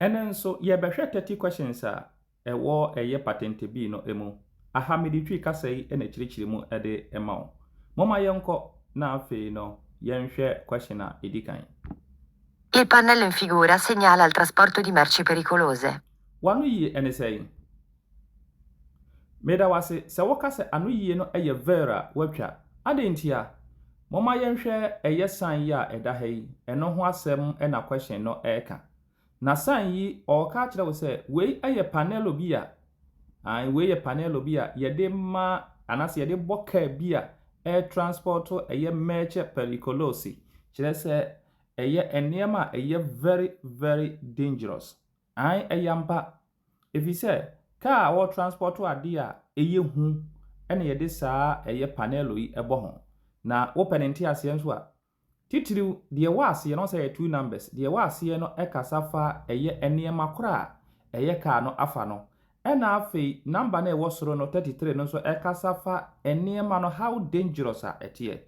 Ɛnnɛ nso, yɛbɛhwɛ Thirty Questions a ɛwɔ Ɛyɛ Patente Bi no mu. Aha mede Twi kasa yi na ɛkyerɛkyerɛ mu de ma wo. Momma yɛnkɔ na afei no yɛnhwɛ question a ɛdi kan. Il pannello in figura segnala il trasporto di merci pericolose. W'ano yie ɛne sɛn? Meda wo ase sɛ woka sɛ anoyie no yɛ Veer a watwa. Adɛn ntia? Momma yɛnhwɛ ɛyɛ sign yi a ɛda ha yi, ɛno ho asɛm na question no reka. Na sign yi ɔreka akyerɛ wo sɛ wei yɛ panelo bi a, ae wei yɛ panelo bi a yɛde ma anaasɛ yɛde bɔ car bi a ɛretransport ɛyɛ merce periculosi, kyerɛ sɛ ɛyɛ nneɛma a ɛyɛ very very dangerous. Ae, ɛyɛ ampa, ɛfiri sɛ kaa a wɔtranspɔto adeɛ a ɛyɛ hu na yɛde saa ɛyɛ panɛlo yi bɔ ho. Na wopɛ ne nteaseɛ nso a, titiriw deɛ ɛwɔ aseɛ no, ɔsɛ ɛyɛ two numbers, deɛ ɛwɔ aseɛ no kasa fa ɛyɛ nneɛma korɔ a ɛyɛ kaa no afa no, ɛna afei number no a ɛwɔ soro no, thirty three, no nso ɛkasa fa nneɛma no how dangerous a ɛteɛ.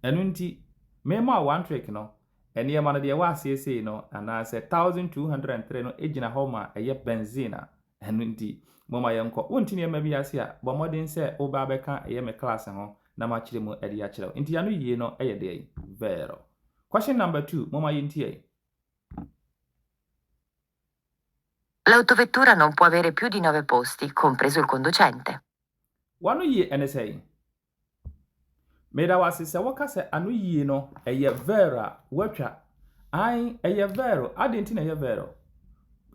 Ɛno nti, mema wo one trick no, Nneɛma no deɛ ɛwɔ aseɛ sei no, anaasɛ 1203 no gyina hɔ ma ɛyɛ benzene a, ɛno nti, momma yɛnkɔ. Wonte nneɛma bi ase a, bɔ mmɔden sɛ woba abɛka ɛyɛ me class ho na makyere mu de akyerɛ wo. Nti ano yie no yɛ dɛn? Vero. Question number two, momma yɛntie. L'autovettura non può avere più di nove posti, compreso il conducente. W'ano yie ne sɛn? Meda wo ase sɛ woka sɛ ano yie no ɛyɛ vɛɛro a woatwa. Ae ɛyɛ vɛɛro, adɛn nti na ɛyɛ vɛɛro?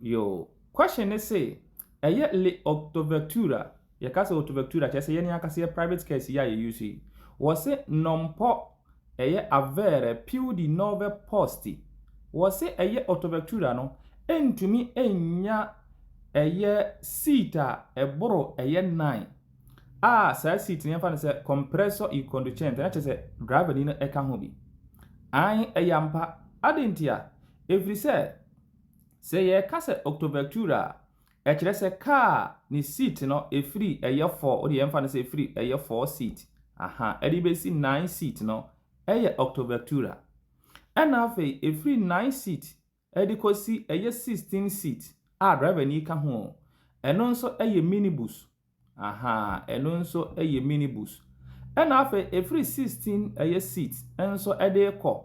Yoo, question ne se ɛyɛ le otovectura, yɛka sɛ otovectura kyerɛ sɛ yɛn ankasa yɛ private cares yi a yɛ use yi. Wɔse non po ɛyɛ avere più di nove posti. Wɔse ɛyɛ otovectura no ɛntumi ɛnnya ɛyɛ seat a ɛboro ɛyɛ nan. a saa seat no yɛmfa no sɛ compressor e conducente na kyerɛ sɛ driver ni no ɛka ho bi an ɛyɛ ampa ade nti a ɛfiri sɛ sɛ yɛka sɛ octovectura a ɛkyerɛ sɛ kaa ne seat no ɛfiri ɛyɛ four wode yɛmfa no sɛ ɛfiri ɛyɛ four seat aha ɛde bɛsi nine seat no ɛyɛ octovectura ɛna afei ɛfiri nine seat de kɔsi ɛyɛ 16 seat a driver ni ka ho, ɛno nso yɛ minibus, ahaa, ɛno nso yɛ minibus. Ɛna afei ɛfiri 16 ɛyɛ seat nso de kɔ,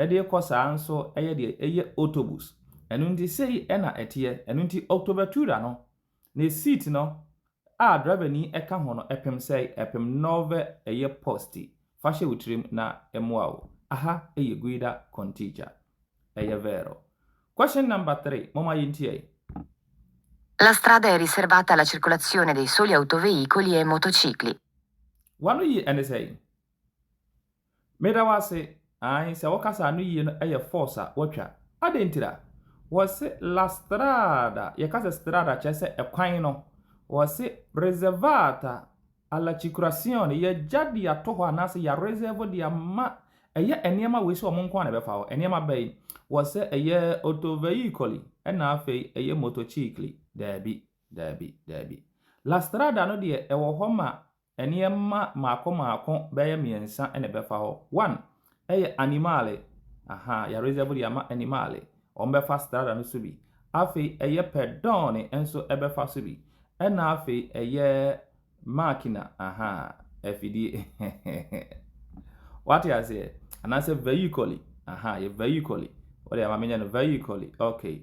de kɔ saa nso yɛ deɛ ɛyɛ autobus. Ɛno nti sei na ɛteɛ, ɛno nti Octobertura no Ne seat no a drivani ka ho no ɛpem sɛe ɛpem nɔve ɛyɛ posti fa hyɛ wo tirim na ɛmoa wo aha ɛyɛ guida con teacher ɛyɛ vero question number three momma yɛntiɛe. La strada è riservata alla circolazione dei soli autoveicoli e motocicli. W'ano ye ɛne sɛe? Meda wo ase, ae sɛ wokasa ano yie no yɛ force a watwa, adɛn ntira? Wɔse la strada, yɛka sɛ strada a kyerɛ sɛ ɛkwan no, wɔse reservata alla cicurazione, yɛagya de ato hɔ anaasɛ yɛ reserve de ama, ɛyɛ nneɛma wei sɛ wɔn nko ara na ɛbɛfa hɔ, nneɛma bɛn? Wɔse ɛyɛ autoveicoli, ɛna afei ɛyɛ motocicli, daabi, daabi, daabi. La strada no deɛ ɛwɔ hɔ ma Nneɛma mmaako mmaako bɛyɛ mmiɛnsa na ɛbɛfa hɔ. One, ɛyɛ animale, ahaa, yɛaresɛvo de ama animale, wɔbɛfa strada no so bi. Afei ɛyɛ pɛdɔɔne nso bɛfa so bi. Ɛna afei ɛyɛ makina, ahaa, afidie, wate aseɛ? Anaasɛ vɛyikɔli, ahaa, yɛ vɛyikɔli, wode ama menyɛ no vɛyikɔli, okay.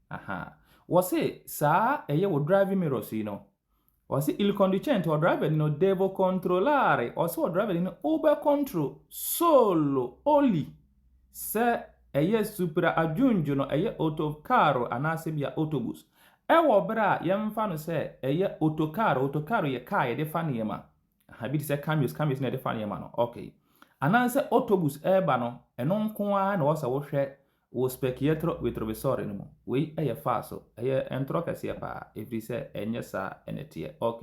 Aha. Wɔse saa ɛyɛ wɔ driving mirror so yi no, wɔse il conducente, ɔdraibani no, devo controllare, ɔse ɔdraibani no wobɛ control solo, only, sɛ ɛyɛ supra aggiungo no, ɛyɛ autocarro anaasɛ bia autobus. Ɛwɔ berɛ a yɛmfa no sɛ ɛyɛ autocarro, autocarro yɛ kaa yɛde fa nneɛma, aha, bi te sɛ caminhões, caminhões na yɛde fa nneɛma no, ok. Anaasɛ autobus ɛreba no, ɛno nko ara na ɛwɔ sɛ wohwɛ Wɔ Specchietro Vitrovisore no mu, wei yɛ faa so. Ɛyɛ ntorɔ kɛseɛ paa, ɛfiri sɛ ɛnyɛ saa na ɛteɛ. Ok,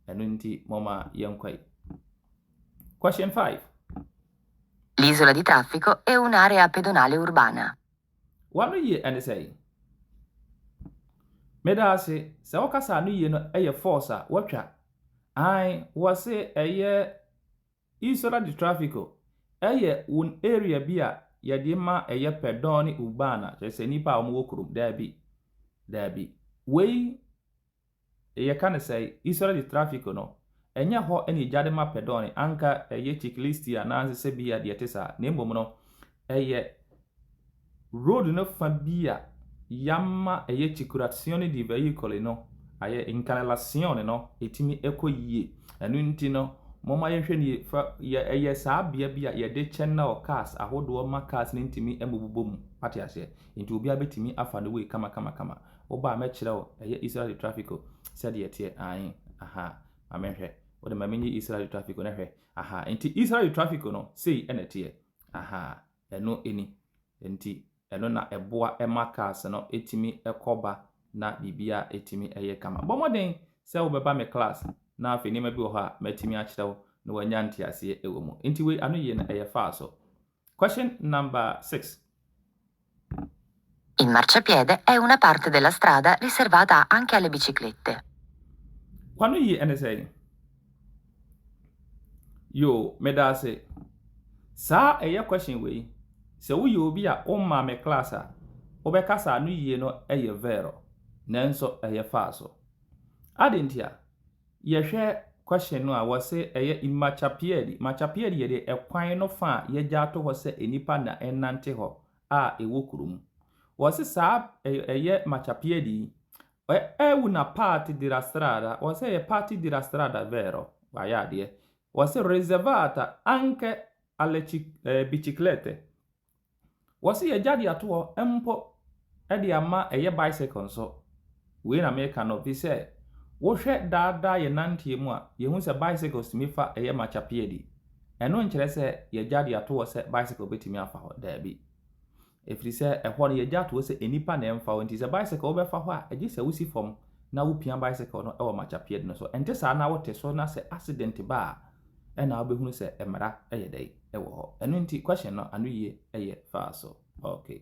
ɛno nti momma yɛnkɔ yi. Question five. L'isola di traffico è un'area pedonale urbana. W'ano yie ɛne sɛn? Meda ase. Sɛ wokasa ano yie no ɛyɛ force a wɔatwa. Ae, wɔse ɛyɛ Isra de trafiko, ɛyɛ won area bi a yɛde ma ɛyɛ pɛ dɔn ne urban a kyerɛ sɛ nnipa a wɔn wɔ kurom daabi daabi wei yɛ ka ne sɛe Isra de trafiko no ɛnyɛ hɔ ɛna egya de ma pɛ dɔn ne anka ɛyɛ chiklisti a nansesɛ bi a deɛ ɛte saa na mmom no ɛyɛ Road no fa bi a yɛama ɛyɛ Chikuratsion de bɛyi Koli no ayɛ Nkalelasion no ɛtumi kɔ yie. Ɛno nti no momma yɛnhwɛ nie fa yɛ ɛyɛ saa bea bi a yɛde channel cars ahodoɔ ma cars no ntumi mmobobɔ mu. Wate aseɛ? Nti obiara bɛtumi afa ne way kamakamakama. Woba a mɛkyerɛ wo ɛyɛ Isra de traffico sɛdeɛ ɛteɛ. Ae, aha, ma menhwɛ. Wode ma menyi Isra de traffico no hwɛ. Aha, nti Isra de traffico no sei na ɛteɛ. Aha, Ɛno ni. Enti ɛno na ɛboa ma cars no tumi kɔ ba na biribiara tumi yɛ kama. Bɔ mmɔden sɛ wobɛba me class na afei nneɛma bi wɔ hɔ a matumi akyerɛ wo na wanya nteaseɛ wɔ mu. Enti wei ano yie no ɛyɛ faa so. Question number six. Il marciapiede è una parte della strada riservata anche alle biciclette. Kwanu yi ɛne sɛn? Yoo, medaase. Saa ɛyɛ question wei, sɛ woyɛ obi a wommaa me class a, wobɛka sɛ ano yie no yɛ vero, nanso ɛyɛ faa so. Adɛn ntia? Yɛhwɛ question no a, wɔse ɛyɛ il marciapiede, marciapiede yɛ deɛ ɛkwan no fa a yɛagya ato hɔ sɛ nnipa na ɛnante hɔ a ɛwɔ kurom. Wɔse saa ɛyɛ Machapiedi yi, é una parte de la strada, wɔse ɛyɛ parte de la strada vero, wayɛ adeɛ, wɔse reservata anche alle biciclette, wɔse yɛagya de ato hɔ mpo de ama ɛyɛ bicycle nso, Wei na meka no, fi sɛ wohwɛ daa daa yɛ nanteɛ mu a, yɛhu sɛ bicycles tumi fa ɛyɛ makyapee adi. Ɛno nkyerɛ sɛ yɛagya de ato hɔ sɛ bicycle bɛtumi afa hɔ, daabi. Ɛfiri sɛ ɛhɔ no yɛagya ato hɔ sɛ nnipa na ɛmfa hɔ nti sɛ bicycle wobɛfa hɔ a, ɛgye sɛ wosi fam na wopia bicycle no wɔ makyapee adi no so. Ɛnte saa na wote so na sɛ accident ba a, ɛna wobɛhunu sɛ mmara yɛ dɛn wɔ hɔ. Ɛno nti question no anoyie yɛ faa so. Okay.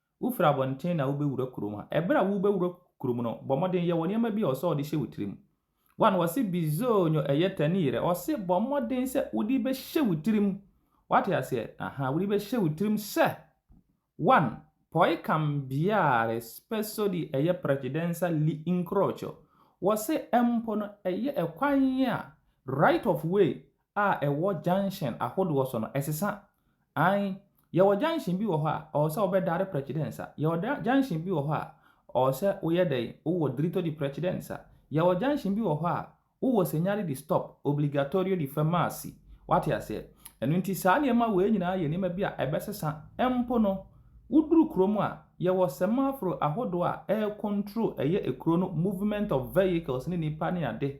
Wofiri abɔnten na wobɛwura kurom a, ɛberɛ a worebɛwura kurom no, bɔ mmɔden yɛ wɔ nneɛma bi a ɔsɛ ɔde hyɛ wo tirim. One, wɔse bizonyo ɛyɛ tani yere, ɔse bɔ mmɔden sɛ wode bɛhyɛ wo tirim. Wate aseɛ? Ahaa, wode bɛhyɛ wo tirim sɛ, one, poi cambiare spesso di ɛyɛ precedenza l'incrocio, wɔse mpo no ɛyɛ ɛkwan a, right of way, a ɛwɔ junction ahodoɔ so no ɛsesa ae yɛwɔ junction bi wɔ hɔ a ɔwɔ sɛ ɔbɛdare prɛkye dɛ nsa yɛwɔ junction bi wɔ hɔ a ɔwɔ sɛ woyɛ dɛ wowɔ dirito di prɛkye dɛ nsa yɛwɔ junction bi wɔ hɔ a wowɔ senyare di stop obligatorio di fermarsi wate aseɛ ɛno nti saa nneɛma wei nyinaa yɛ nneɛma bi a ɛbɛsesa mpo no woduru kuro mu a yɛwɔ semaforo ahodoɔ a ɛyɛ control ɛyɛ ekuro no movement of vehicles ne nipa ne ade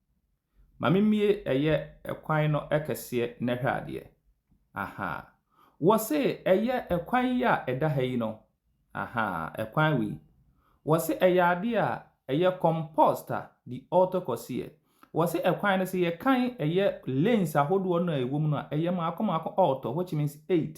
Mame mie ɛyɛ ɛkwan no ɛkɛseɛ na hwɛ adeɛ ahaa Wɔse ɛyɛ ɛkwan yi a ɛda ha yi no ahaa ɛkwan wei Wɔse ɛyɛ adeɛ a ɛyɛ composta di ɔɔtɔ kɔseɛ Wɔse ɛkwan no sɛ yɛkan ɛyɛ lanes ahodoɔ no a ɛwɔ mu no a ɛyɛ maako maako ɔɔtɔ which means eight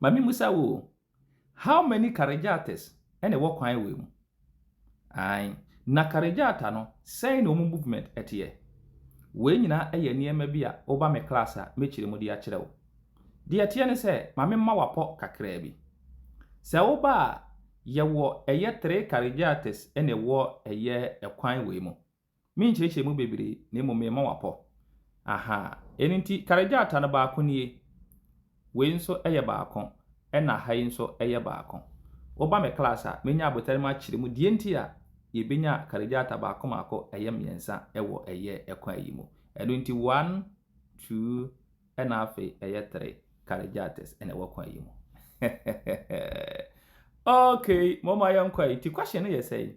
Ma me musa wo o, how many Karejates na ɛwɔ kwan wei mu? Ae, na Karejata no, sɛn na wɔn movement teɛ? Wei nyinaa yɛ nneɛma bi a woba me class a, mɛkyerɛ mu de akyerɛ wo. Deɛ ɛteɛ ne sɛ, ma me mma wo apɔ kakraa bi. Sɛ woba a, yɛwɔ ɛyɛ three Karejates na ɛwɔ ɛyɛ kwan wei mu. Menkyerɛkyerɛ mu bebree, na mmom mema wɔapɔ. Aha! Ɛno nti, kar gyata no baako nie, wei nso yɛ baako, ɛnna ha yi nso yɛ baako. Woba me class a, menya abotare mu akyerɛ mu deɛ nti a yɛbɛnya kar gyata baako mmaako ɛyɛ mmiɛnsa wɔ ɛyɛ kwan yi mu. Ɛno nti, one, two, ɛnna afei ɛyɛ three kar gyatas na ɛwɔ kwan yi mu. Okay, momma yɛnkɔ. Nti, question no yɛ sɛn?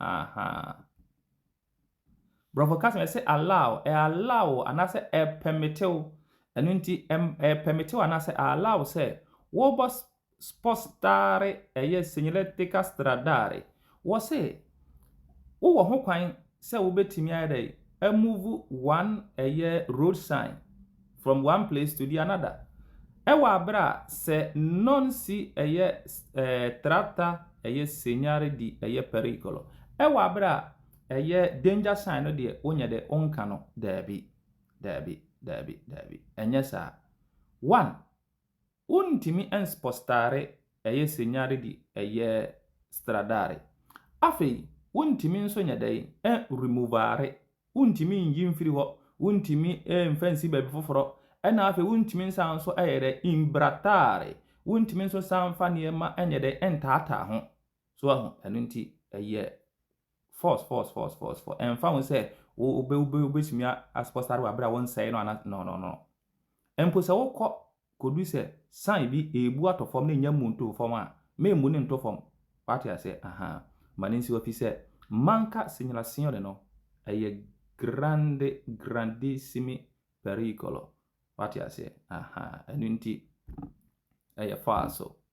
Ahaa. Borɔfo kasa no, ɛse allow, ɛ allow wo anaasɛ ɛ pɛmete wo. Ɛno nti, ɛm ɛ pɛmete wo anaasɛ ɛ allow wo sɛ wobɔ spostare ɛyɛ segnaletica stradale. Wɔse wowɔ ho kwan sɛ wobɛtumi ayɛ dɛn amuvu one ɛyɛ road sign. From one place to the another Ɛwɔ abere a sɛ non si ɛyɛ eh, trata ɛyɛ segnare di ɛyɛ pericolo Ɛwɔ abere a ɛyɛ danger sign no deɛ wonyɛ dɛ wonka no Daabi, daabi, daabi, daabi Ɛnyɛ saa One, Wontumi nspɔstare ɛyɛ senyare di ɛyɛ stradare. Afei wontumi nso nyɛ dɛn nremovare, wontumi nyi mfiri hɔ, wontumi nfa nsi baabi foforɔ, ɛna afei wontumi nsan nso ɛyɛ dɛn nbratare, wontumi nso nsan nfa nneɛma nyɛ dɛn ntaataa ho. So wahu? Ɛno nti ɛyɛ Force, force, force, force, force. Ɛmfa ho sɛ wobɛ wobɛ wobɛtumi asopɔ sare wɔ abere a wɔnsɛe no ana no no no. Mpo sɛ wokɔ kɔdu sɛ san bi ɛrebu atɔ fam na ɛnya mmu ntoo fam a, memmu ne nto fam. Wate aseɛ? Aha. Ma ne nsi hɔ fi sɛ manka segnalazione no ɛyɛ grande, grandissimi pericolo. Wate aseɛ? Aha. Ɛno nti ɛyɛ faa so.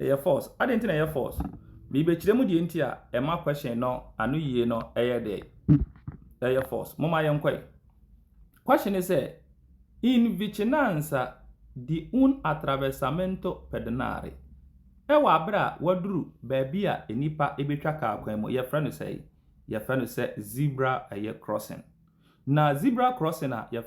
Ɛyɛ false. Adɛn nti na ɛyɛ false? Merebɛkyerɛ mu deɛ nti a ɛma question no ano yie no ɛyɛ dɛ ɛyɛ false. Momma yɛnkɔe. Question ne sɛ, In vicinanza di un attraversamento pedonale, Ɛwɔ aberɛ a waduru baabi a nnipa bɛtwa kaa kwan mu, yɛfrɛ no sɛe? Yɛfrɛ no sɛ zebra ɛyɛ crossing. Na zebra crossing a yɛf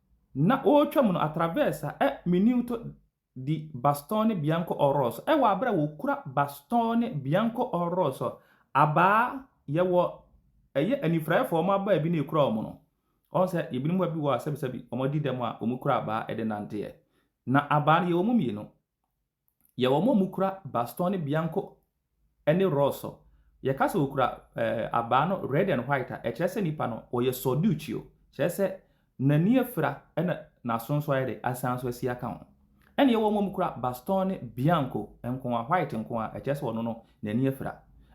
Na wɔretwam no atravɛsa ɛ Minuto di Bastone Bianco o Rosso ɛ wɔ bere a wɔkura Bastone Bianco o Rosso abaa yɛwɔ ɛyɛ anifuraeɛfoɔ wɔn abaa bi na ɛkura wɔn no wɔn sɛ ebinom bi wɔ a sɛbisɛbi wɔn adi dɛm a wɔkura abaa ɛde nanteɛ na abaa no yɛwɔ mu mmienu yɛ wɔn a wɔkura bastɔn no bianko ne rɔsɔ. Yɛka sɛ wɔkura eh, abaa no red and white a, ɛkyerɛ sɛ nipa no ɔyɛ sɔduukyio. Kyerɛ sɛ n'ani afira na n'aso nso ayɛ dɛ asan nso asi aka ho. Ɛna yɛwɔ wɔn a wɔkura bastɔn no bianko nko a, white nko a, ɛkyerɛ sɛ ɔno no n'ani afira.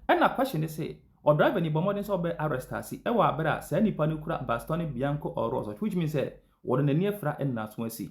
Ɛna question ne se, ɔdriver ni bɔ mmɔden sɛ ɔbɛ arrest ase wɔ abere a saa nipa no kura bastɔn no bianko or rɔsɔ, which means sɛ ɔno n'ani afira na n'aso asi.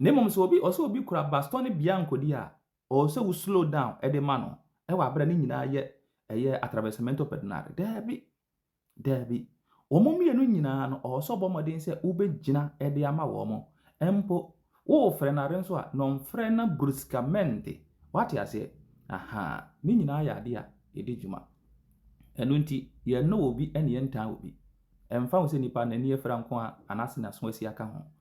Na mmom sɛ obi ɔsɛ obi kura bastɔne biankodi a, ɔwɔ sɛ wo slow down de ma no wɔ abere a ne nyinaa yɛ ɛyɛ atravessamento pedonale. Daabi, daabi. Wɔn mmienu nyinaa no, ɔwɔ sɛ ɔbɔ mmɔden sɛ wobɛgyina de ama wɔn. Mpo, worefrɛ no are nso a, na ɔmfrɛ no bruscamente. Woate aseɛ? Ahaa, ne nyinaa yɛ adeɛ a ɛdi dwuma. Ɛno nti, yɛnnɔ obi ne yɛntaa obi. Ɛmfa ho sɛ nipa no ani afira nko ara anaasɛ n'aso asi aka ho.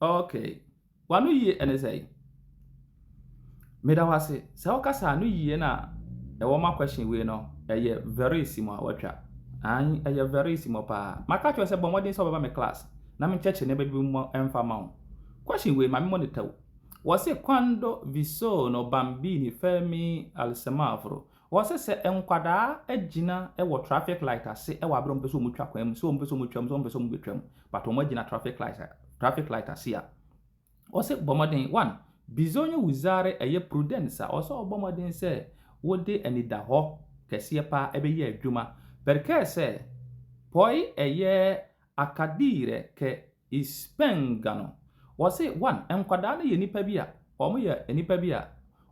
Okay, w'ano yie ɛne sɛn? Meda wo ase, sɛ wokasa ano yie na ɛwɔ ma question wei no, ɛyɛ very simɔ a watwa. Ayi, ɛyɛ very simɔ paa. Maka kyerɛ sɛ bɔ mmɔden sɛ ɔbɛba me class na menkyɛkyerɛ nneɛma bi mu ɛmfa ma wo. Question wei ma me monitor wo. Wɔse quando vi sono bambini fermi al semaforo, Wɔse sɛ nkwadaa agyina wɔ traffic light ase wɔ abere a wɔpɛ sɛ wɔn twa kwan mu, sɛ wɔn pɛ sɛ wɔn twa mu, sɛ wɔn pɛ sɛ wɔn bɛ twa mu, but wɔn agyina traffic light traffic light ase a, wɔse bɔ mmɔden, one, bizonye wuzare ɛyɛ prudence a, wɔse ɔbɔ mmɔden sɛ wode anidahɔ kɛseɛ paa ɛbɛyɛ adwuma, perkɛ sɛ, poi ɛyɛ akadire kɛ Ispenga no, wɔse one, nkwadaa no yɛ nnipa bi a, wɔn yɛ nnipa bi a,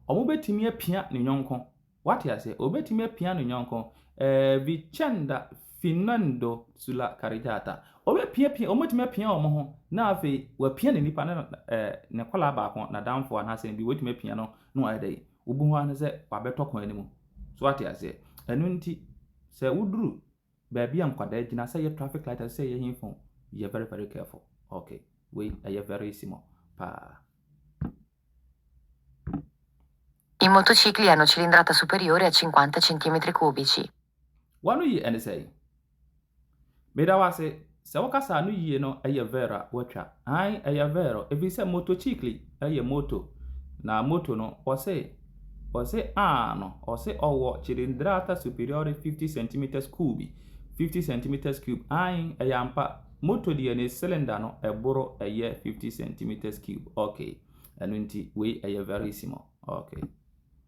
wɔn bɛtumi apia ne yɔnko, wate aseɛ, wɔn bɛtumi apia ne yɔnko, eh, Vicenda finendo sulla carreggiata, wɔn bɛpia pia, wɔn bɛtumi apia wɔn ho, na afei wɔapia ne nnipa, na eh, ne kɔlaa baako, na danfo anaasɛ bi, wɔtumi apia no, na wɔayɛ dɛ, wobu ho ano sɛ wɔabɛtɔ kwan no mu, so wate aseɛ, ɛno nti, sɛ woduru Baabi a nkwadaa gyina sɛ ɛyɛ traffic light ɛsɛ sɛ yɛ he fon yɛ very very careful ok wei ɛyɛ very simɔ paa. I motocicli hanno cilindrata superiore a cinquanta centimetri cubici. W'ano ye ɛne sɛn? Meda wo ase Sɛ wo kasa no yie no ɛyɛ ver a watwa. Aane ɛyɛ ver o ɛfiri sɛ motocicli ɛyɛ moto na moto no ɔse ɔse aah no ɔse ɔwɔ cilindrata superiore fifty centimetres cubi fifty centimetres cube aane ɛyɛ ampa moto deɛ ne cylinder no ɛboro ɛyɛ fifty centimetres cube ok ɛno nti wei ɛyɛ verissimo ok.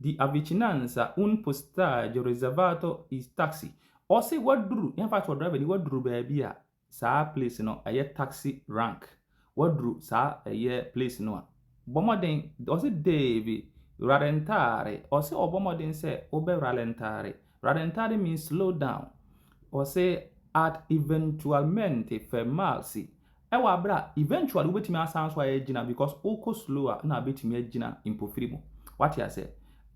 di avicinanza un postaggio reservato i taxi ɔse waduru ne fa kyerɛ driver ni waduru baabi a saa place no ɛyɛ taxi rank waduru saa ɛyɛ place no a bɔ mmɔden ɔse devi rallentare ɔse ɔbɔ mmɔden sɛ wobɛ rallentare rallentare means slow down ɔse at eventualmente fermarsi Ɛwɔ aber a eventually wobetumi asan so ayɛ gyina because wokɔ slow a nna abetumi agyina mpofiri mu. Wate ase?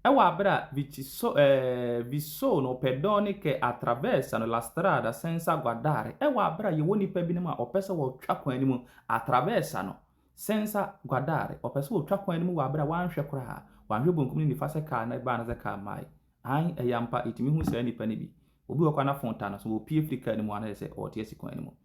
Ɛwɔ aber a viciso eh, vi sono pedone che attraversano la strada senza guardare, ɛwɔ aber a yɛwɔ nnipa binom a wɔpɛ sɛ wɔtwa kwan no mu, attraversano senza guardare, wɔpɛ sɛ wɔtwa kwan no mu wɔ aber a wɔanhwɛ koraa, wɔanhwɛ bonkum ne nifa sɛ kaa na ɛbaa anasɛ kaa mmae. Aane, ɛyɛ ampa, yetumi hu saa nnipa no bi. Obi wɔ hɔ koraa na phone ta no so, opue firi kaa no mu anaa yɛ sɛ ɔretease kwan no mu.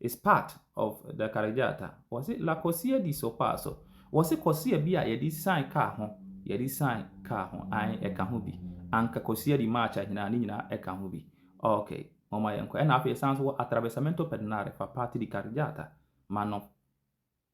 It's part of the Karejata. Wɔse la kɔsia di so paso. Wɔse kɔsia bi a yɛde sian kaa ho, yɛde sian kaa ho, ae ɛka ho bi. Anka kɔsia di marcha nyinaa, ne nyinaa ɛka ho bi. Ok, momma yɛnkɔ. Ɛna afei yɛsan nso wɔ attraversamento pedonale fa parte di Karejata, ma no.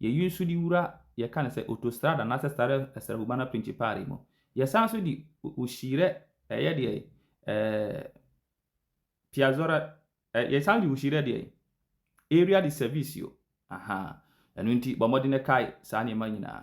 Yɛyi nso de wura yɛka no sɛ otostrada anaasɛ stare essere humana principale mu. Yɛsan nso de ohyirɛ ɛyɛ deɛ eh, piazzora eh, yɛsan nso de ohyirɛ deɛ area de servicio aha ɛno nti bɔ mmɔden kae saa nneɛma nyinaa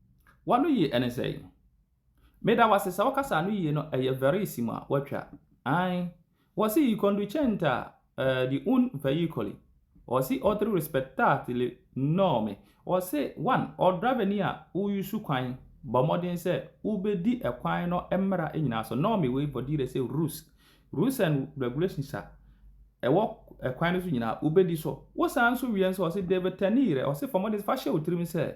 Wano yie ɛne sɛn? Meda wo ase sɛ wo kasa no yie no ɛyɛ very simu a watwa ae wɔse yi conducente a eh, di un veicoli wɔse otri respectatili norme wɔse one ɔ driver ni a wo yusu kwan bɔ mmɔden sɛ wo bɛ di ɛkwan no mmra nyinaa so norme wei vɔ dire sɛ rus rus and regulations a ɛwɔ ɛkwan no so nyinaa wo bɛ di so wo san so wie nso wɔse deve tenire wɔse fɔ mmɔden sɛ fa hyɛ wo tirim sɛ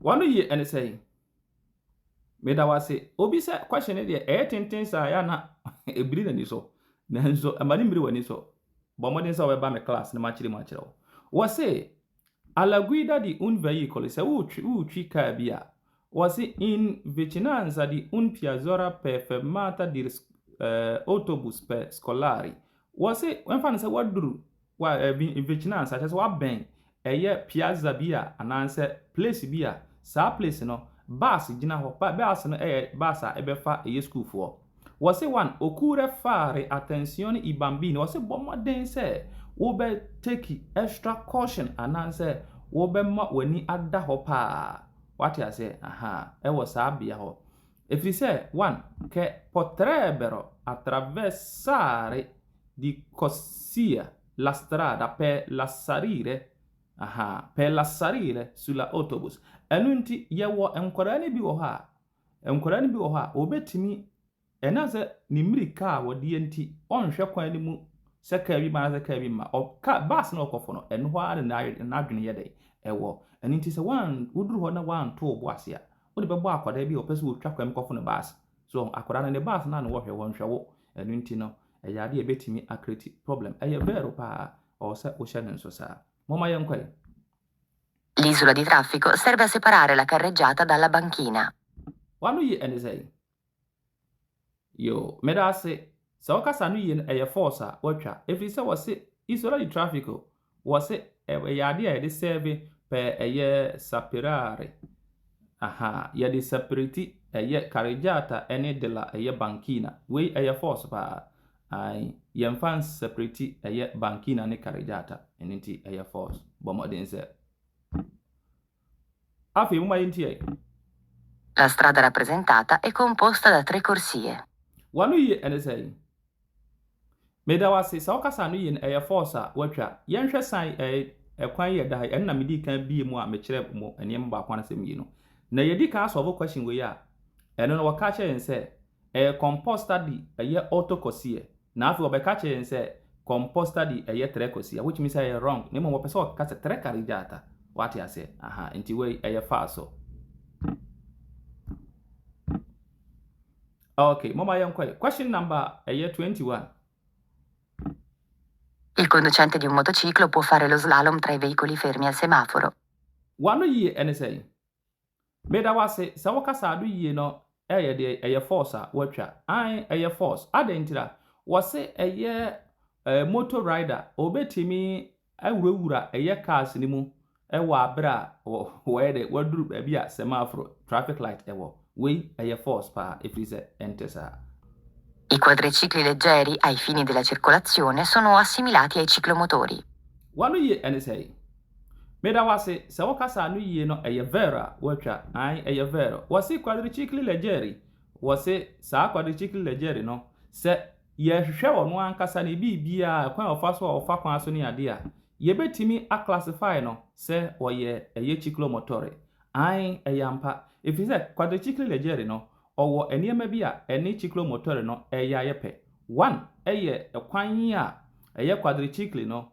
Wano yie ɛne sɛn? Meda wo ase. Obi sɛ question no deɛ ɛyɛ tenten saa yɛ na ɛbiri n'ani so. Nanso ɛma no mmiri w'ani so. Bɔ mmɔden sɛ wobɛba me class na makyerɛ mu akyerɛ wo. Wɔse a la guida di un veicolo sɛ wotwi wotwi kaa bi a wɔse in vicinanza di un piazzora per fermata di autobus per scolari wɔse wɔmfa no sɛ woaduru Wa ɛbi ebegyina ansa kyerɛ sɛ wabɛn ɛyɛ piazza bi a anaasɛ place bi a saa place no bus gyina hɔ ba bus no ɛyɛ bus a ɛbɛfa ɛyɛ sukuufoɔ wɔse wan okurɛ fare atensione i bambini wɔse bɔ mmɔden sɛ wobɛ take extra caution anaasɛ wobɛma w'ani ada hɔ paa wate aseɛ ahaa ɛwɔ saa bea hɔ Ɛfiri sɛ, 1 kɛ pɔtrɛɛ bɛrɔ atravɛsare di Kɔsia la strada pɛ la sarire, aha, pɛ la sarire su la otobus. Ɛno nti, yɛwɔ nkwadaa no bi wɔ hɔ a, nkwadaa no bi wɔ hɔ a, wɔbɛtumi, ɛnam sɛ ne mmirika a wɔdeɛ nti, ɔnhwɛ kwan no mu sɛ kaa bi ma anaasɛ kaa bi mma. Ɔ, kaa, bus no ɔkɔfo no, ɛno hɔ ara na n'adwene yɛ dɛn? Ɛwɔ. Ɛno nti sɛ woan, woduru hɔ na woanto wo bo ase a, Wode bɛbɔ akwadaa bi a ɔpɛ sɛ ɔtwa kwan mu kɔfo no bus. So ɔho? Akwadaa no ne bus no a na wɔhwɛ, wɔnhwɛ wo. Ɛno nti no, ɛyɛ adeɛ a ɛbɛtumi akreti problem. Ɛyɛ Vero pa ara. Ɔwɔ sɛ wohyɛ no nso saa. Momma yɛnkɔ ɛ. L'isola di traffico serve a separare la carreggiata dalla banchina. W'ano ye ɛne sɛn? Yoo medase sɛ wo kasa no ye no ɛyɛ force a watwa ɛfiri sɛ wɔse isola di traffic o wɔse ɛyɛ adeɛ a yɛde sɛɛve pɛɛ ɛyɛ saperare ahaa yɛde sapereti ɛyɛ carreggiata ɛne della ɛyɛ banchina wei ɛyɛ force paa ae yɛmfa nsapereti ɛyɛ banchina ne carreggiata ɛno nti ɛyɛ force bɔ mmɔden sɛ Afei momma yɛnteɛ. La strada rappresentata è composta da tre corsie. W'ano yie ɛne sɛn? Meda wo ase. Sɛ wokasa ano yie no, ɛyɛ fɔɔs a woatwa. Yɛnhwɛ san ɛɛ kwan yi a ɛda ha yi. Ɛno na medii kan biee mu a mekyerɛ mo nneɛma baako anaasɛ mmienu. Na yɛdi kan asɔlvo question wei a, ɛno no wɔka kyerɛ yɛn sɛ. Ɛyɛ kɔmpɔ study ɛyɛ auto kɔsiɛ na afei ɔbɛka kyerɛ yɛn sɛ kɔmpɔ study ɛyɛ trɛ kɔsiɛ which means sɛ ɛyɛ wrong na mmom ɔpɛ sɛ ɔka sɛ trɛ kari gyaata wate aseɛ aha nti wei ɛyɛ falso okay moma yɛn kɔɛ question number ɛyɛ 21 Il conducente di un motociclo può fare lo slalom tra i veicoli fermi al semaforo. Wano yie ɛne sɛn? Meda wo ase sɛ wo kasaa do yie no ɛyɛ deɛ ɛyɛ force a watwa ae ɛyɛ force adɛn ntira wɔse ɛyɛ eh, motor rider ɔbɛtumi awurawura ɛyɛ cars no mu ɛwɔ aberɛ a wɔyɛ dɛ waduru baabi a semaphore traffic light ɛwɔ wei ɛyɛ force paa ɛfiri sɛ ɛnte saa I quadricicli leggeri ai fini della circolazione sono assimilati ai ciclomotori. W'ano yie ɛne sɛe? Meda wo ase sɛ wo kasa no yie no ɛyɛ verr a watwa ae ɛyɛ verr wɔse quadricycle legere wɔse saa quadricycle legere no sɛ yɛhwehwɛ ɔno ankasa ne biribiaa kwan a ɔfa so a ɔfa kwan so ne adeɛ a yɛbɛtumi a classify no sɛ ɔyɛ ɛyɛ ciclomotore ae ɛyɛ ampa ɛfiri sɛ quadricycle legere no ɔwɔ nneɛma bi a ɛne ciclomotore no ɛyɛ ayɛ pɛ one ɛyɛ kwan a ɛyɛ quadricycle no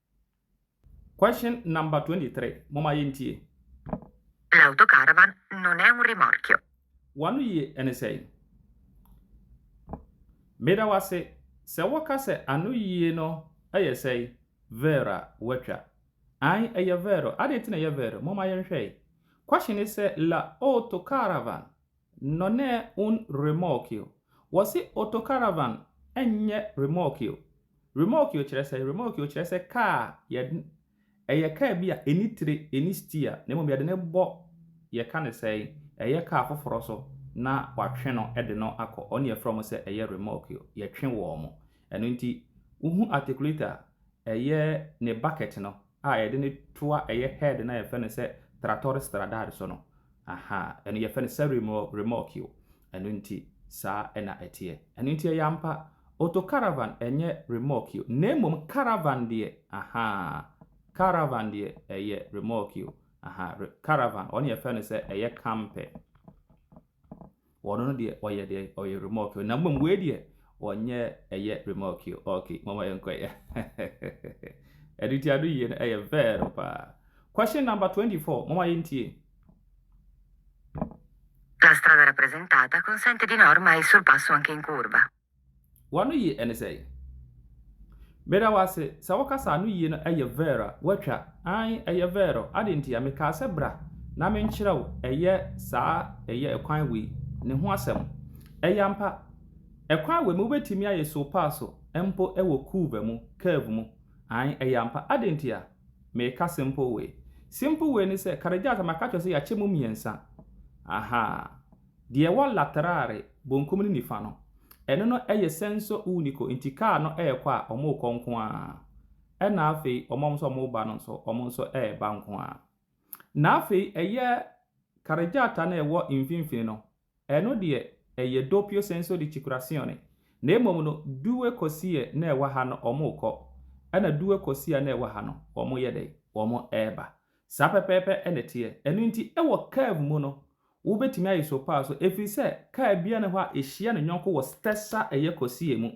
Question number 23, Momma yɛntie. L'autocaravan non è un rimorchio. W'ano yie ɛne sɛn? Meda wo ase. Sɛ wɔka sɛ ano yie no yɛ sɛn? Verr a, woatwa. Ae, ɛyɛ verr. Adɛn nti na ɛyɛ verr? Momma yɛnhwɛ. Question ne sɛ, L'autocaravan Nnɔnɛɛ un remorkio. Wɔse autocaravan nyɛ remorkio. Remorkio kyerɛ sɛn? Remorkio kyerɛ sɛ kaa a yɛd ɛyɛ kaa bi a ɛnni tire, ɛnni stia, na mmom yɛde no bɔ, yɛka no sɛn? Ɛyɛ kaa foforɔ so na wɔatwe no de no akɔ. Wɔn na yɛfrɛ wɔn sɛ ɛyɛ remorkio. Yɛtwe wɔn. Ɛno nti, wohu articulator a ɛyɛ ne bucket no, a yɛde no toa ɛyɛ head no a yɛfrɛ no sɛ Tratores Stradar so no, aha, ɛno yɛfrɛ no sɛ remorquio. Ɛno nti, saa na ɛteɛ. Ɛno nti, ɛyɛ ampa, autocaravan nyɛ remorquio, na mmom caravan deɛ, aha, caravan deɛ ɛyɛ remorquio, aha, caravan, ɔno yɛfrɛ no sɛ ɛyɛ camper. Wɔn no deɛ ɔyɛ deɛ ɔyɛ remorkio na mmom wei deɛ ɔnyɛ ɛyɛ remorkio ok mama yɛn kɔ yɛ ɛde ti ado yie no ɛyɛ vɛɛrɛ paa question number 24 mama yɛn tie. La strada rappresentata consente di norma il sorpasso anche in curva. W'ano ye ɛne sɛn? Meda wo ase sɛ wo kasa no yie no ɛyɛ Vero watwa aane ɛyɛ Vero adɛn ntia me kaa sɛ bra na me nkyerɛ wo ɛyɛ saa ɛyɛ ɛkwan wei ne ho asɛm ɛyɛ ampa ɛkwan wei mu wobɛtumi ayɛ so paa so mpo ɛwɔ curve mu curve mu aane ɛyɛ ampa adɛn ntia me ka simple way simple way ne sɛ Karejata maka kyerɛ sɛ yɛakyɛ mu mmiɛnsa ahaa. Deɛ ɛwɔ Laterare bonkum ne nifa no, ɛno no yɛ Senso Unico, nti kaa no rekɔ a, wɔrekɔ nko ara. Ɛnna afei wɔn a wɔn nso wɔreba no nso, wɔn nso reba nko ara. Na afei ɛyɛ Carreggiata no a ɛwɔ mfimfini no, ɛno deɛ ɛyɛ Doppio Senso di Circulazione, na mmom no Due Corsie no a ɛwɔ ha no, wɔrekɔ, ɛnna Due Corsia no a ɛwɔ ha no, wɔyɛ dɛn? Wɔreba. Saa pɛpɛɛpɛ na ɛteɛ. Ɛno nti, wɔ curve mu no, Wobɛtumi ayi so paa so ɛfiri sɛ kaa biara nni hɔ a ɛhyia ne yɔnko wɔ stɛs a ɛyɛ kɔsie mu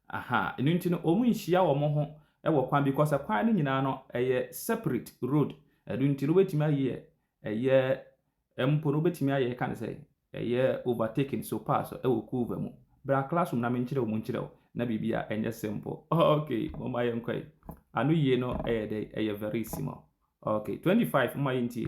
ahaa ɛno nti no wɔn nhyia wɔn ho wɔ kwan bi kɔsɛ kwan no nyinaa no ɛyɛ sɛpirɛt road ɛno nti no wobɛtumi ayɛ ɛyɛ mpo no wobɛtumi ayɛ ɛka ne sɛ ɛyɛ overtaking so paa so ɛwɔ kuuva mu bra classroom na menkyerɛ wo mu nkyerɛ wo na biribi a ɛnyɛ simple ok moma yɛ nkɔ yi ano yie no ɛyɛ dɛ ɛyɛ very simple ok 25 moma yɛ ntie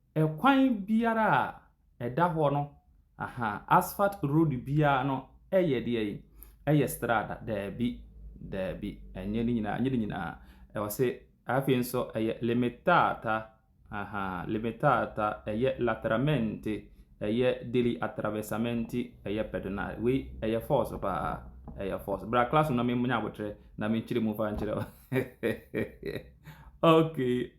Ɛkwan biara a ɛda hɔ no aha asphalt road biara no yɛ deɛ yi ɛyɛ strada daabi daabi ɛnyɛ ne nyinaa ɛnyɛ ne nyinaa ɛwɔ se afei nso ɛyɛ limitata aha limitata ɛyɛ lateralmente ɛyɛ deli atravessamenti ɛyɛ pedonale wei ɛyɛ force paa ɛyɛ force bra class na me nya abotrɛ na me nkyerɛ mu fa nkyerɛ okay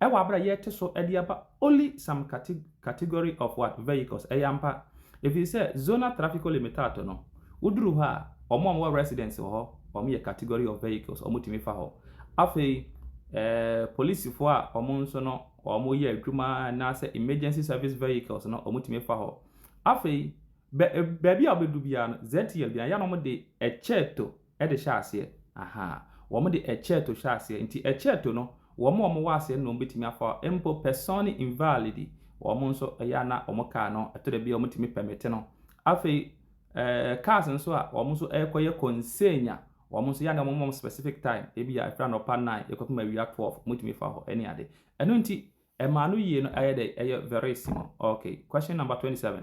Ɛwɔ aber a yɛretse so dze aba only some category of what vehicles, ɛyɛ ampa, efirisɛ Zona Trafico Limitato no, wodur hɔ a, wɔn a wɔwɔ residence wɔ hɔ, wɔn yɛ category of vehicles, wɔn tumi fa hɔ. Afei, eh, polisifo a wɔn nso no, wɔn yɛ adwuma anaasɛ emergency service vehicles no, wɔn tumi fa hɔ. Afei, bɛ, baabi a wɔbɛdu biara no, ZTL biara, yɛ na wɔde ɛkyɛɛto de hyɛ aseɛ. Ahaa. Wɔn de ɛcceto hyɛ aseɛ. Nti ɛcceto no, wɔn a wɔn wɔ aseɛ no na wɔn bɛtumi afa hɔ. Mpo persone invalidi, wɔn nso ɛyɛ a na wɔn car no, ɛtɔ da bi a wɔn tumi permit no. Afei, ɛɛ, cars nso a wɔn nso ɛrekɔ yɛ consegna, wɔn nso ɛyɛ a na wɔn ma wɔn specific time. Ebia ɛfiri anɔpa nnan ɛkɔpem awia twelve, wɔtumi fa hɔ ɛne ade. Ɛno nti, ɛmaa no yie no ayɛ dɛ? Ɛyɛ verissimo. Okay. Question number twenty seven.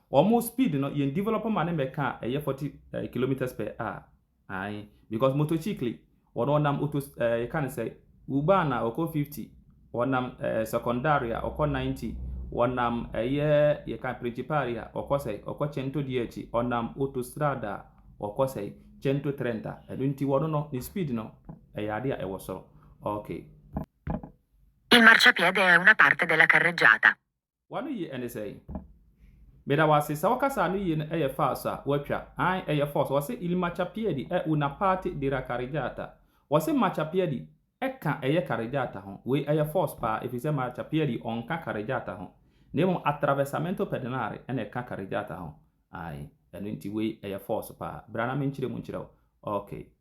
Wɔn speed no yɛn develop ma ne mɛka a ɛyɛ 40 eh, kilometers per hour ae because motocycle wɔn ɔnam oto eh, yɛka ne sɛ uban a ɔkɔ 50 wɔnam eh, secondary a ɔkɔ 90 wɔnam ɛyɛ yɛka principal a ɔkɔ sɛ ɔkɔ cento di akyi ɔnam autostrada a ɔkɔ sɛ cento 30 ɛno nti wɔn no ne speed no ɛyɛ ade a ɛwɔ soro okay. Il marciapiede è una parte della carreggiata. W'ano ye ne sɛn? Meda wo ase. Sɛ wo kasa no ye no ɛyɛ false a, w'atwa. Aane, ɛyɛ false. Wɔse ili macha piedi e una parte dira carreggiata. Wɔse macha piedi ɛka ɛyɛ carreggiata ho. Wei ɛyɛ false paa efisɛ macha piedi ɔnka carreggiata ho. Na mmom attraversamento pedonale ɛna ɛka carreggiata ho. Aane, ɛno nti wei ɛyɛ false paa. Bra na menkyerɛ mu nkyerɛ wo. Okay.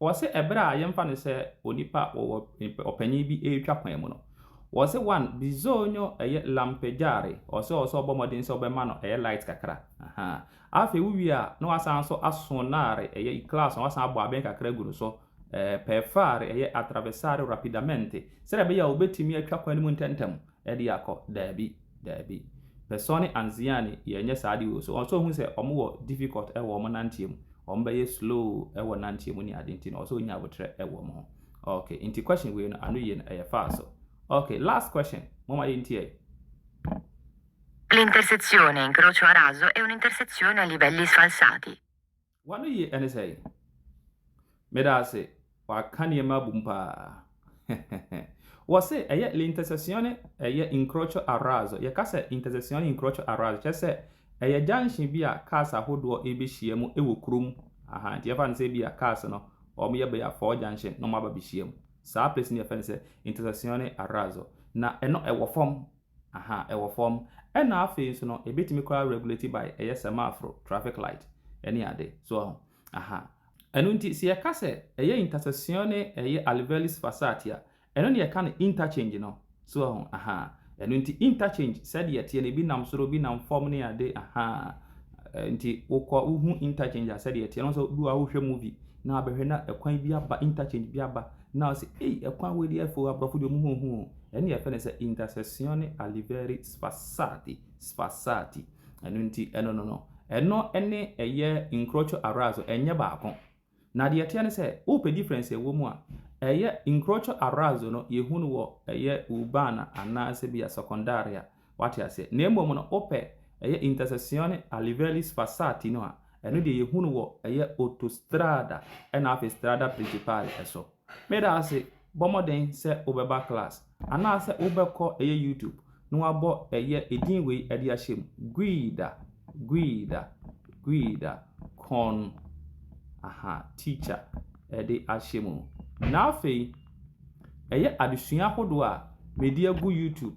Wɔse ɛberɛ a yɛmfa no sɛ onipa wɔwɔ ɔpanin bi retwa kwan mu no, wɔse one bizonyo ɛyɛ lampejare, ɔse ɔwɔ sɛ ɔbɔ mmɔden sɛ ɔbɛma no ɛyɛ light kakra, ahaa, afei wo wie a na wasan nso asonare ɛyɛ Iklaas na wasan abɔ abɛn kakra agu no so, ɛɛ, per fare ɛyɛ atravessare rapidamente, sɛdeɛ ɛbɛyɛ a ɔbɛtumi atwa kwan no mu ntɛntɛm, de akɔ daabi daabi person ne anziani yɛnyɛ saa de o so ɔsɛ ohun sɛ ɔmo wɔ difficult wɔ ɔmo nanteɛ mu ɔmo bɛyɛ slow wɔ nanteɛ mu ne ade nti no ɔsɛ onya abotrɛ wɔ ɔmo ho ok nti question wei no ano yie no ɛyɛ faa so ok last question mo ma yɛ ntiɛ. L'intersezione incrocio a raso è un'intersezione a livelli sfalsati. W'anoyi ne sɛn? Meda ase, w'aka nneɛma abom paa. Wɔse ɛyɛ l'intersezione ɛyɛ incrocio a razzo. Yɛka sɛ intersezione incrocio a razzo kyerɛ sɛ ɛyɛ junction bi a cars ahodoɔ ɛrebɛhyia mu ɛwɔ kurom. Aha, nti yɛfa no sɛ bi a cars no wɔyɛ bɛyɛ a four junction na wɔn aba bɛhyia mu. Saa place no yɛfɛ no sɛ intersezione a razzo. Na ɛno ɛwɔ fam. Aha, ɛwɔ fɔm. Ɛna afei nso no ɛbɛtumi koraa regulate by ɛyɛ sɛmaaforo, traffic light, ɛne ade. So wahu? Aha. Ɛno nti sɛ yɛka sɛ ɛyɛ intersection ne ɛyɛ Alvelis Fassatt a, ɛno na yɛka no interchange no. So wahu? Aha. Ɛno nti interchange sɛdeɛ ɛteɛ no ɛbi nam soro, ɛbi nam fɔm ne ade. Aha. Nti wokɔ wohu interchange a sɛdeɛ ɛteɛ no, wo nso bi wɔ hɔ a wohwɛ movie na wabɛhwɛ na ɛkwan bi aba, interchange bi aba, Na ɔse ei ɛkwan wei deɛ ɛfɛ oo, aborɔfo deɛ ɔmo ho hu oo, ɛne yɛfrɛ no sɛ intercessione aliveri sfassati, sfassati, ɛno nti ɛno no no, ɛno ɛne ɛyɛ incrocio arazo ɛnyɛ baako. Na deɛ ɛteɛ ne sɛ wopɛ difference a ɛwɔ mu a, ɛyɛ incrocio arazo no yɛhu no wɔ ɛyɛ urbana anaasɛ bia secondaria, Wate aseɛ? Na mmom no, wopɛ, ɛyɛ Intercessione a Livelli Sforzati no a, ɛno deɛ yɛhu no wɔ, ɛyɛ Autostrada ɛna afei Strada Principale ɛso. Meda ase, bɔ mmɔden sɛ wobɛba class, anaasɛ wobɛkɔ, ɛyɛ YouTube, na wabɔ, ɛyɛ edin wei ɛde ahyɛ mu, Guida, Guida, Guida, con, aha, teacher, ɛde ahyɛ mu. Na afei, ɛyɛ adesua ahodoɔ a, medi agu YouTube,